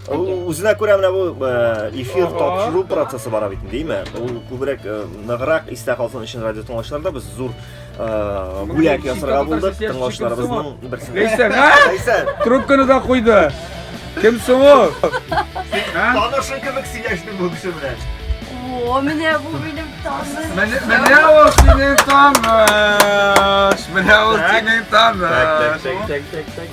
Үзенә күрә менә бу эфир тапшыру процессы бара бит, димме? Ул күбрәк ныграк истә калсын өчен радио тыңлаучыларда без зур бүләк ясарга булдык тыңлаучыларыбызның берсенә. Ләйсән, а? Ләйсән, трубканы да куйды. Кем соң ул? Танышың кебек сөйләште бу кеше белән. О, менә бу минем таныш. Менә ул синең таныш. Менә ул синең таныш. Так, так, так, так, так.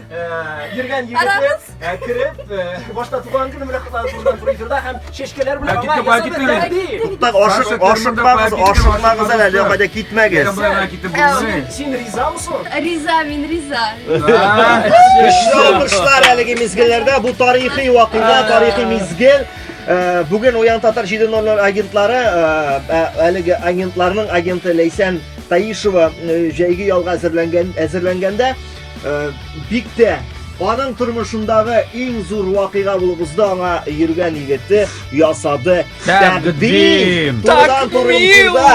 Йөргән егетләр кереп, башта туган көне белән котланып булган фризерда һәм чәчкәләр белән аңа Туктак, ашыкмагыз, ашыкмагыз әле, әле кайда китмәгез. Син ризамысың? Риза, мин риза. Көчле алкышлар әлеге мизгелләрдә бу тарихи вакыйга, тарихи мизгел. Э, Бүген Уян Татар 7.00 агентлары э, э, әлеге агентларның агенты Ләйсән Таишева җәйге ялга әзерләнгән әзерләнгәндә Э, бик тә аның тормышындагы иң зур вакыйга булып узды аңа йөргән егете ясады тәкъдим турыдан туры эфирда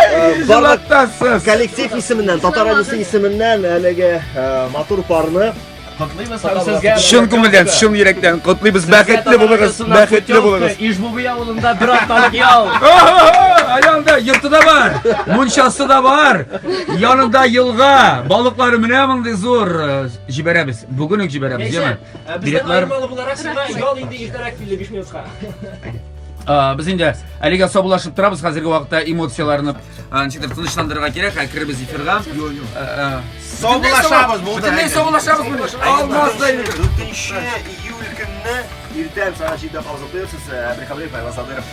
э, коллектив исеменнән татар радиосы исеменнән әлеге э, матур парны Котлыйбыз һәм сезгә чын күңелдән, чын йөрәктән котлыйбыз. Бәхетле булыгыз, бәхетле булыгыз. Ижбуби авылында бер атналык ял. Аянда йорты да бар, мунчасы да бар. Янында елга, балыклары менә мондый зур җибәрәбез. Бүген үк җибәрәбез, яме. Билетлар малы буларак сиңа ял инде иртәрәк килде 5 минутка. Без инде әлегә сабулашып торабыз, хәзерге вакытта эмоцияләрне ничектер тынычландырырга кирәк, ә керебез эфирга. Сабулашабыз булды. Бөтенләй сабулашабыз булды. Алмаз да инде. 4 июль көнне иртән сәгать 7-дә калып торсыз, Әбрихабрев Айваз Садыров.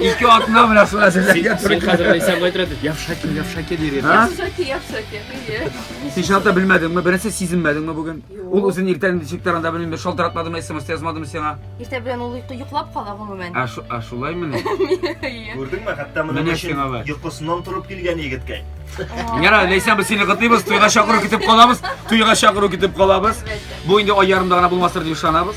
Ике атна менә шул әзерләргә туры килә. Хәзер Ләйсән былай тора, яфшаки, яфшаки дир иде. Яфшаки, яфшаки, әйе. Син шалта белмәдеңме? Беренче сизенмәдеңме бүген? Ул үзен иртән ничек таранда белмим, шалтыратмадымы, смс язмадымы сиңа? Иртә белән ул йоклап кала гомумән. Ә шу, ә шулаймы ни? Күрдеңме, хәтта моның өчен йокысыннан торып килгән егеткә. Яра, Ләйсән, без сине кытыйбыз, туйга чакыру китеп калабыз, туйга чакыру китеп калабыз. Бу инде ай ярымда гына булмастыр дип ышанабыз.